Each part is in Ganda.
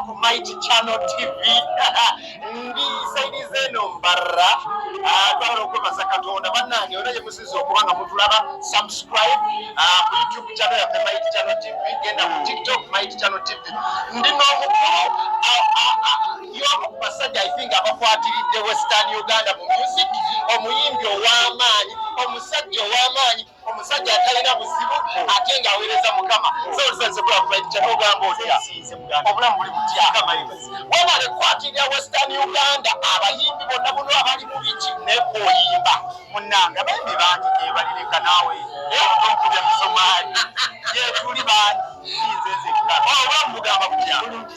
ku mighty channel tv ndi saidi zeno mbarra ah, twagala okwebaza katonda bannange era gye musiza okuba nga mutulaba subscribe ah, ku youtube channel yaffe mighty channel tv genda ku tiktok mighty channel tv ndi n'omukulu y'omu ku basajja ifinga abakwatiridde western uganda mu music omuyimbi ow'amaanyi omusajja ow'amaanyi omusajja atalina buzibu ate nga aweereza mukama obulamu buli butya webale kukwatira western uganda abayimbi bonna buno abali mu biki nekwoyimba munange abayimbi bangi gebalireka naawe onkubya misomaali yetuli bangi nze nzekka obulamu bugamba butya bulungi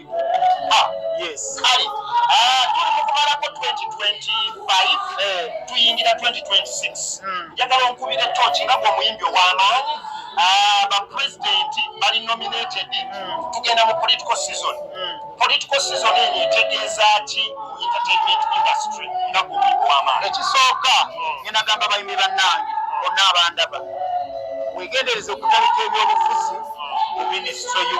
ah, kale ah, tuli mukumalako 2025 eh. tuyingira 2026 hmm. njagala onkubira etoki nga gwomuyimbi owamaanyi ah, bapulezidenti bali nominated hmm. tugenda mu political season hmm. political season eno etegeeza ki entertainment industry nga gwomuyimbi wamaanyi ekisooka ngenagamba bayimbi bannange bonna abandaba wegendereza okutalika ebyobufuzi mu minisitule yo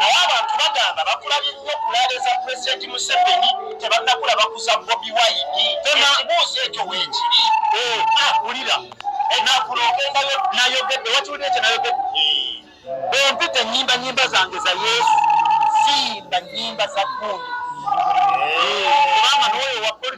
naye abantu bagamba bakulabye nnyo kulaale za pulezidenti museveni tebannakula bakuza bobi wayini ekibuuzo ekyo weekiri eh, ah, wulira enakuloogendayo eh, nayogedde wakiwulira ekyo nayogedde bwempita enyimba nyimba zange za yesu simba nyimba za gundi eh.